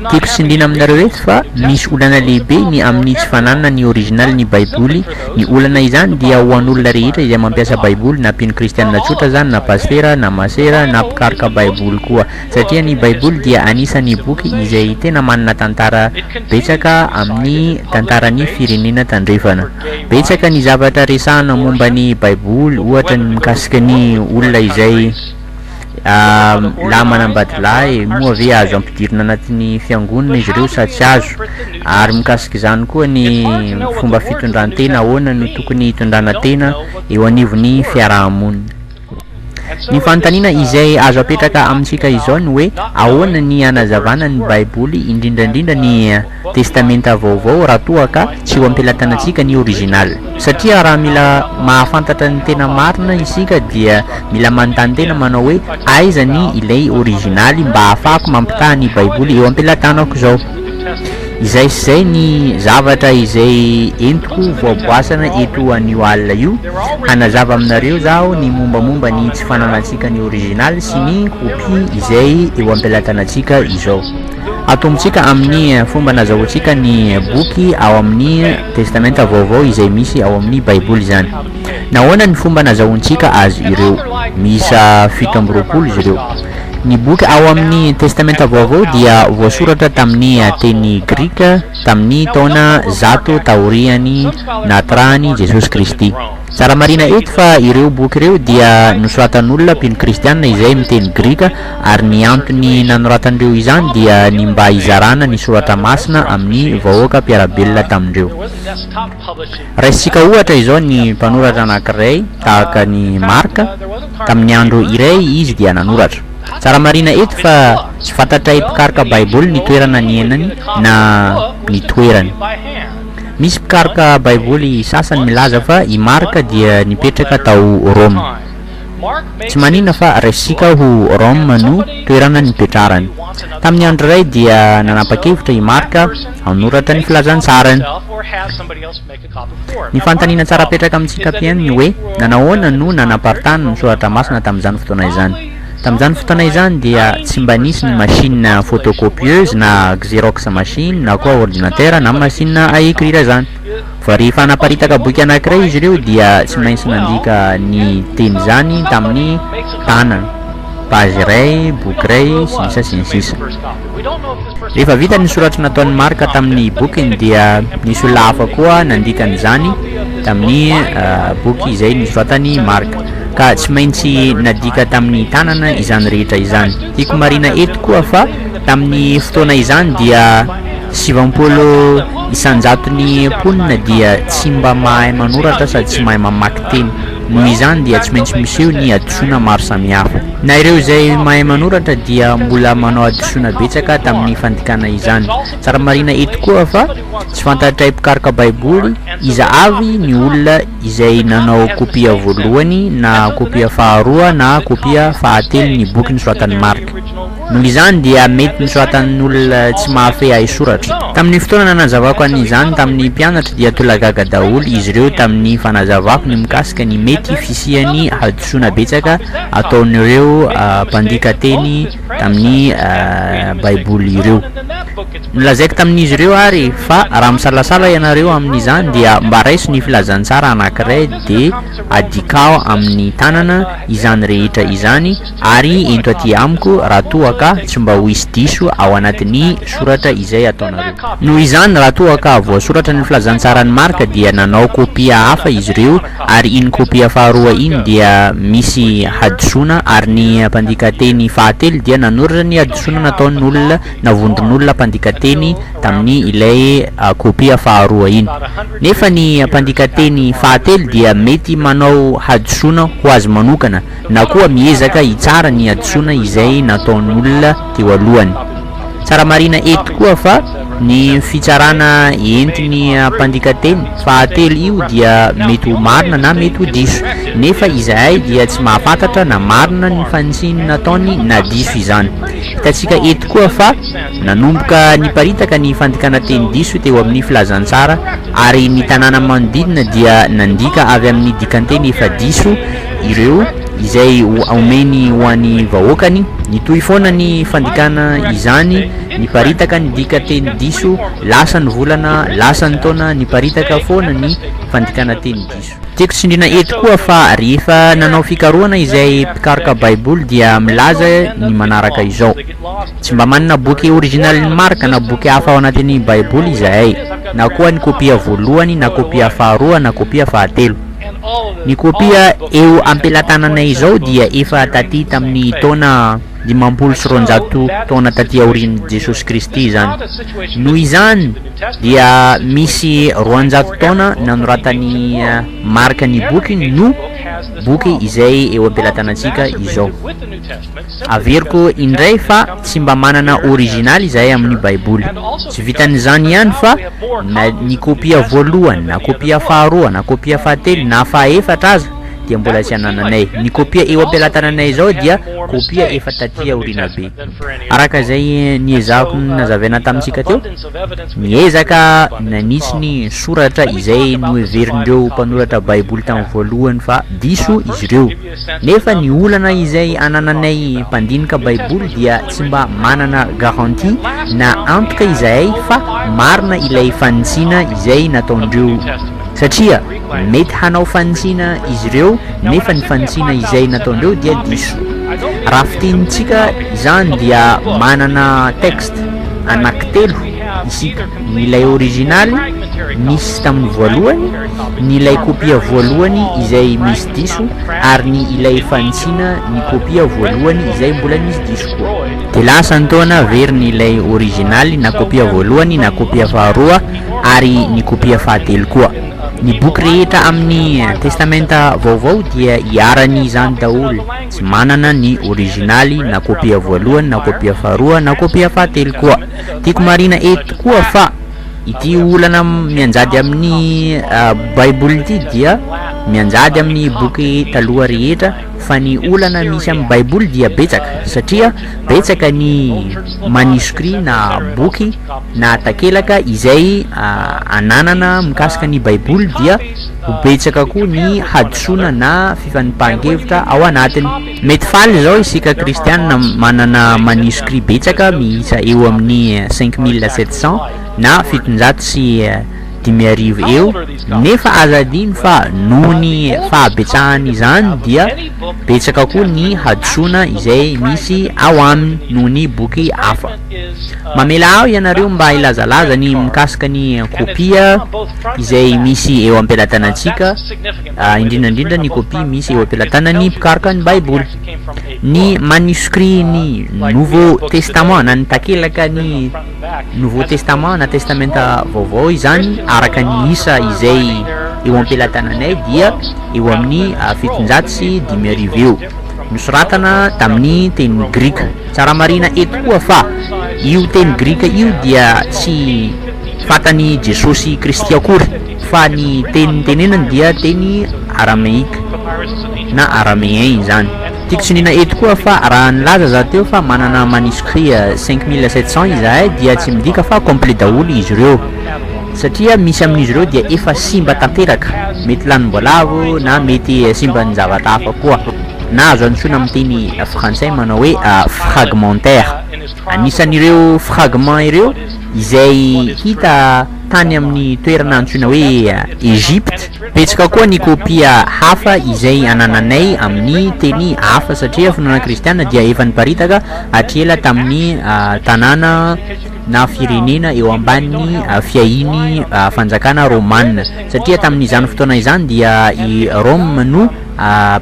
Tiako tsindriana aminareo eto fa misy olana lehibe ny amin'ny tsy fananana ny originalin'ny Baiboly. Ny olana izany dia ho an'olona rehetra izay mampiasa Baiboly, na mpino kristianina tsotra izany, na pasitera, na masera, na mpikaroka Baiboly koa. satria ny Baiboly dia anisan'ny boky izay tena manana tantara betsaka amin'ny tantaran'ny firenena tandrefana. Betsaka ny zavatra resahana momba ny Baiboly, ohatra ny mikasika ny olona izay lahy manambadilahy, moa ve azo ampidirina anatin'ny fiangonana izy ireo sa tsy azo, ary mikasika izany koa ny fomba fitondran-tena, ahoana no tokony hitondrana tena eo anivon'ny fiaraha-monina. Ny fanontaniana izay azo apetraka amintsika izao ny hoe, ahoana ny hanazavana ny Baiboly, indrindra indrindra ny Testamenta Vaovao, raha toa ka tsy eo am-pelatanantsika ny original? Satria raha mila mahafantatra ny tena marina isika dia mila manontany tena manao hoe, aiza ny ilay originaly mba hahafahako mampitaha ny Baiboly eo am-pelatanako izao? Izay sy izay ny zavatra izay entiko voaboasana eto anio alina io. Hanazava aminareo zaho ny mombamomba ny tsy fananantsika ny original sy ny copie izay eo am-pelatanantsika izao. Atombontsika amin'ny fomba nazahoantsika ny boky ao amin'ny Testamenta Vaovao izay misy ao amin'ny Baiboly izany. Nahoana ny fomba nazahoantsika azy ireo? Miisa fito amby roapolo izy ireo. Ny boky ao amin'ny Testamenta Vaovao dia voasoratra tamin'ny teny grika, Tamin' ny taona zato taorian' ny nahaterahan' i Jesosy Kristy. Tsara marihina eto fa ireo boky ireo dia nosoratann' olona mpino kristiana izay miteny grika, ary ny antony nanoratan' ireo izany dia ny mba hizarana ny Soratra Masina amin' ny vahoaka mpiara-belona tamin-dreo. Raisintsika ohatra izao ny mpanoratra anankiray tahaka an'i Marc, tamin'ny andro iray izy dia nanoratra. Tsara marihina eto fa tsy fantatray mpikaroka Baiboly ny toerana niainany na ny toerany. Misy mpikaroka Baiboly sasany milaza fa i Marc dia nipetraka tao Roma. Tsy manina fa raisintsika ho Rome no toerana nipetrarany. Tamin'ny andro iray dia nanapa-kevitra i Marc Hanoratra ny filazantsarany. Ny fanontaniana tsara apetraka amin'i Tsikapien ny hoe, nanahoana no nanaparitahana ny soratra masina tamin'izany fotoana izany? Tamin'izany fotoana izany dia tsy mba nisy ny machine photocopieuse na xerox machine na koa ordinatera na machine à écrire izany. Vao rehefa hanaparitaka boky anankiray izy ireo dia tsy maintsy nandika ny teny izany tamin'ny tanana, page iray, boky iray, sy ny sisa sy ny sisa. Rehefa vita ny soratra nataon'i Marc tamin'ny bokiny dia nisy olona hafa koa nandika an'izany tamin'ny uh, boky izay nisoratan'i Marc ka tsy maintsy nadika tamin'ny tanana izany rehetra izany. Tiako marina eto koa fa tamin'ny fotoana izany dia Sivampolo isan-jaton'ny mponina dia tsy mba mahay manoratra sady tsy mahay mamaky teny. Noho izany dia tsy maintsy miseho ny hadisoana maro samihafa. Na ireo izay mahay manoratra dia mbola manao hadisoana betsaka tamin'ny fandikana izany. Tsara marihina eto koa fa tsy fantatray mpikaroka Baiboly iza avy ny olona izay nanao kopia voalohany na kopia faharoa na kopia fahatelo ny boky nosoratan'i Marka. Noho izany dia mety nosoratan'ny olona tsy mahafehy haisoratra. Tamin'ny fotoana nanazavako an'izany tamin'ny mpianatra dia tolagaga daholo izy ireo tamin'ny fanazavako ny mikasika ny mety fisian'ny hadisoana betsaka ataon'ireo mpandika teny tamin'ny Baiboly ireo. Nolazaiko tamin'izy ireo àry fa raha misalasala ianareo amin'izany dia mba raiso ny filazantsara anankiray dia adikao amin'ny tanana izany rehetra izany Ary ento aty amiko raha toa ka tsy mba ho hisy diso ao anatin'ny soratra izay ataonareo. Noho izany, raha toa ka voasoratra ny filazantsaran'i Marka dia nanao kopia hafa izy ireo, ary iny kopia faharoa iny dia misy hadisoana, ary ny mpandika teny fahatelo dia nanoratra ny hadisoana nataon'olona na vondron'olona mpandika teny tamin'ny ilay kopia faharoa iny. Nefa ny mpandika teny fahatelo dia mety manao hadisoana ho azy manokana, na koa miezaka hitsara ny hadisoana izay nataon'olona teo alohany. Tsara marihina eto koa fa ny fitsarana entin'ny mpandikateny fahatelo io dia mety ho marina na mety ho diso, nefa izahay dia tsy mahafantatra na marina ny fanitsiny nataony na diso izany. Hitantsika eto koa fa nanomboka niparitaka ny fandikana teny diso teo amin'ny Filazantsara ary ny tanàna manodidina dia nandika avy amin'ny dikanteny efa diso ireo izay omeny ho an'ny vahoakany, nitohy foana ny fandikana izany, niparitaka ny dika teny diso, lasa ny volana, lasa ny taona, niparitaka foana ny fandikana teny diso. Tiako tsindriana eto koa fa rehefa nanao fikarohana izay mpikaroka Baiboly dia milaza ny manaraka izao, Tsy mba manana boky originalin'i Marka na boky hafa ao anatin'ny Baiboly izahay, na koa ny kopia voalohany na kopia faharoa na kopia fahatelo. Ny kopia eo am-pelatananay izao dia efa taty tamin'ny taona dimampolo sy roanjato taona taty aorian'i Jesosy Kristy izany. Noho izany, dia misy roanjato taona nanoratan'i Marka ny bokiny no boky izay eo am-pelatanantsika izao. Averiko indray fa tsy mba manana original izahay amin'ny baiboly. Tsy vitan'izany ihany fa na ny kopia voalohany na kopia faharoa na kopia fahatelo na fahaefatra aza dia mbola tsy anananay. Ny kopia eo am-pelatananay izao dia kopia efa taty aoriana be. Araka izay niezahako nazavaina tamintsika teo, ny ezaka nanitsy ny soratra izay noheverin'ireo mpanoratra baiboly tamin'ny voalohany fa diso izy ireo. Nefa ny olana izay anananay mpandinika baiboly dia tsy mba manana garantie na antoka izahay fa marina ilay fanitsiana izay nataondreo satria mety hanao fanitsiana izy ireo nefa ny fanitsiana izay nataondreo dia diso. Raha fitenintsika izany dia manana texte anaky telo isika, ny ilay originaly nisy tamin'ny voalohany, ny ilay kopia voalohany izay misy diso ary ny ilay fanitsiana ny kopia voalohany izay mbola misy diso koa. Dia lasa ny taona averiny ilay originaly na kopia voalohany na kopia faharoa ary ny kopia fahatelo koa. Ny boky rehetra amin'ny Testamenta Vaovao dia iharan'ny izany daholo, tsy manana ny originaly na kopia voalohany na kopia faharoa na kopia fahatelo koa. Tiako marihina eto koa fa. Ity olana mianjady amin'ny Baiboly ity dia mianjady amin'ny boky taloha rehetra, fa ny olana misy amin'ny Baiboly dia betsaka, satria betsaka ny manuscrits na boky na takelaka izay ananana mikasika ny Baiboly dia ho betsaka koa ny hadisoana na fifanipahan-kevitra ao anatiny. Mety faly izao isika kristiana manana manuscrits betsaka miisa eo amin'ny cinq mille sept cents na fitonjato sy dimy arivo eo nefa aza adino fa noho ny fahabetsahan'izany dia betsaka koa ny hadisoana izay misy ao aminy noho ny boky hafa. Mamela ahy ianareo mba hilazalaza ny mikasika ny kopia izay misy eo am-pelatanantsika, indrindra indrindra ny kopia misy eo am-pelatanan'ny mpikaroka ny Baiboly. Ny manuscrit ny Nouveau Testament na ny takelaka ny Nouveau Testament na Testamenta Vaovao izany araka ny isa izay eo am-pelatananay dia eo amin'ny ah, fitonjato sy dimy arivo eo nosoratana tamin'ny teny grika. Tsara marina eto koa fa io teny grika io dia tsy fatan'i Jesosy Kristy akory. Fa ny teny nitenenany dia teny arameika na araméen izany. Tiako tsindriana eto koa fa raha nilaza za teo fa manana manuscrit cinq mille sept cents izahay dia tsy midika fa complet daholo izy ireo satria misy amin'izy ireo dia efa simba tanteraka, mety lanim-boalavo na mety simban'ny zavatra hafa koa. Na azo antsoina amin'ny teny frantsay manao hoe fragmentaire. Anisan'ireo fragments ireo izay hita. tany amin'ny toerana antsoina hoe Egypte. Betsaka koa ny kopia hafa izay anananay amin'ny teny hafa satria finoana kristiana dia efa niparitaka hatry ela tamin'ny tanàna na firenena eo ambanin'ny fiahian'ny fanjakana romana satria tamin'izany fotoana izany dia i Rome no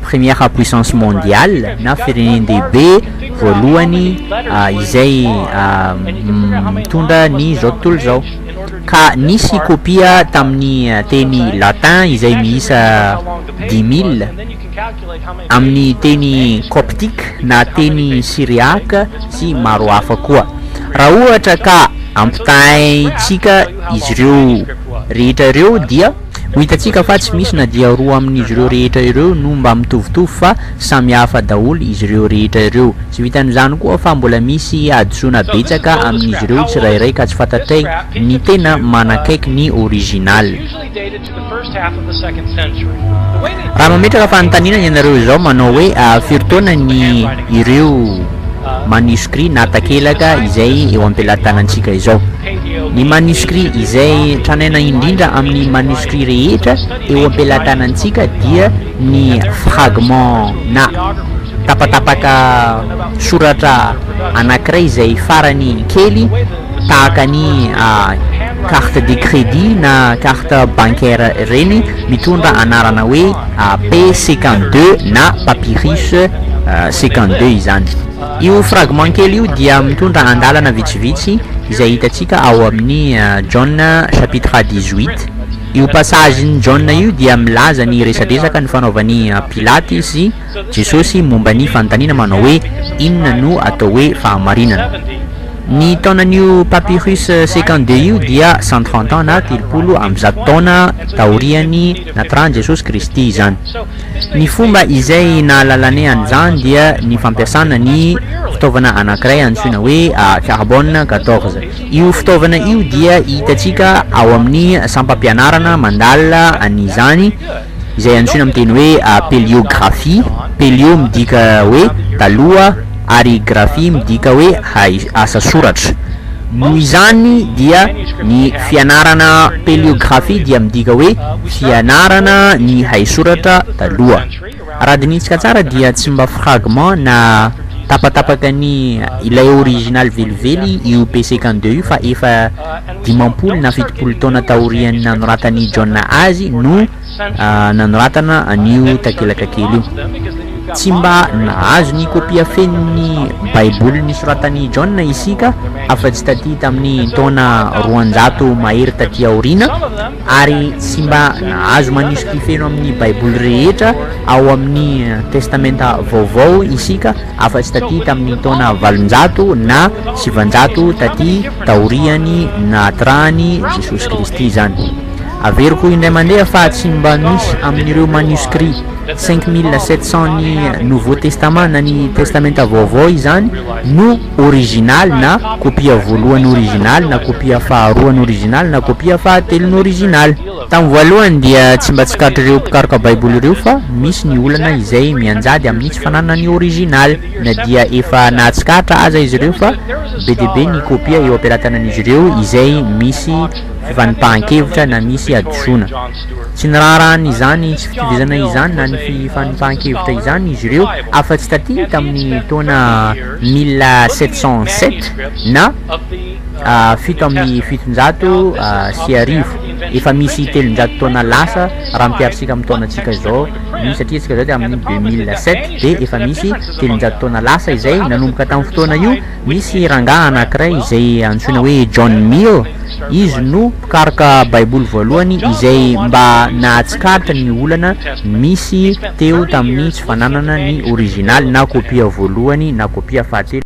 Première puissance mondiale na firenen-dehibe voalohany izay mitondra ny izao tontolo izao ka nisy kopia tamin'ny teny latin izay miisa dix mille amin'ny teny coptique na teny syriaque sy maro hafa koa raha ohatra ka ampitahaintsika izy ireo rehetra ireo dia Ho hitantsika fa tsy misy na dia roa amin'izy ireo rehetra ireo no mba mitovitovy fa samy hafa daholo izy ireo rehetra ireo. Tsy vitan'izany koa fa mbola misy hadisoana betsaka amin'izy ireo tsirairay ka tsy fantatray ny tena manakaiky ny original. Raha mametraka fanontaniana ianareo izao manao hoe firy taona ny ireo manuscrits na takelaka izay eo am-pelatanantsika izao? Ny maniskry izay tranaina indrindra amin'ny maniskry rehetra eo am-pelatanantsika dia ny fragment na tapatapaka soratra anankiray izay farany kely tahaka ny carte de crédit na carte bancaire ireny mitondra anarana hoe P cinquante deux na papyrus cinquante deux izany. Io fragment kely io dia mitondra andalana vitsivitsy izay hitantsika ao amin'ny Jaona chapitre dix huit. Io passage n'i Jaona io dia milaza ny resadresaka nifanaovan'i Pilaty sy Jesosy momba ny fanontaniana manao hoe Inona no atao hoe fahamarinana? Ny taonan'io papyrus second de io dia cent trente ans na telopolo amby zato taona taorian'ny natran'i Jesosy Kristy izany. Ny fomba izay nahalalanay an'izany dia ny fampiasana ny fitaovana anankiray antsoina hoe Carbone quatorze. Io fitaovana io dia hitantsika ao amin'ny sampam-pianarana mandalina an'izany izay antsoina amin'ny teny hoe Péliografie, Pélio midika hoe taloha ary Graphie midika hoe asa soratra. Noho izany dia ny fianarana paleographie dia midika hoe fianarana ny haisoratra taloha. Raha dinintsika tsara dia tsy mba fragment na tapatapaka ny ilay original velively io P cinquante deux io fa efa dimampolo na fitopolo taona taorian'ny nanoratan'i John azy no nanoratana an'io takelaka kely io. Tsy mba nahazo ny kopia fenon'ny Baiboly nosoratan'i John isika afa-tsy tatỳ tamin'ny taona roanjato mahery tatỳ aoriana, ary tsy mba nahazo manisokỳ feno amin'ny Baiboly rehetra ao amin'ny Testamenta Vaovao isika afa-tsy tatỳ tamin'ny taona valonjato na sivanjato tatỳ taorian'ny nahaterahan'i Jesosy Kristy izany. Averiko indray mandeha fa tsy mba misy amin'ireo manuscrits cinq mille sept cents ny Nouveau Testament na ny Testamenta Vaovao izany no originaly na kopia voalohany originaly na kopia faharoany originaly na kopia fahatelony originaly. Tamin'ny voalohany dia tsy mba tsikarit'ireo mpikaroka Baiboly ireo fa misy ny olana izay mianjady amin'ny tsy fananany originaly na dia efa nahatsikaritra aza izy ireo fa be dia be ny kopia eo am-pelatanan'izy ireo izay misy fivanipahan-kevitra na misy hadisoana. Tsy niraharahany izany tsy fitovizana izany na ny fivanipahan-kevitra izany izy ireo afa-tsy taty tamin'ny taona mille sept cent sept na fito amby fitonjato sy arivo. Efa misy telonjato taona lasa raha ampiharintsika amin'ny taonantsika izao ny satria isika izao dia amin'ny deux mille sept dia efa misy telonjato taona lasa izay nanomboka tamin'ny fotoana io Misy rangahy anankiray izay antsoina hoe John Mill, izy no mpikaroka Baiboly voalohany izay mba nahatsikaritra ny olana nisy teo tamin'ny tsy fananana ny orizinaly na kopia voalohany na kopia fahatelo.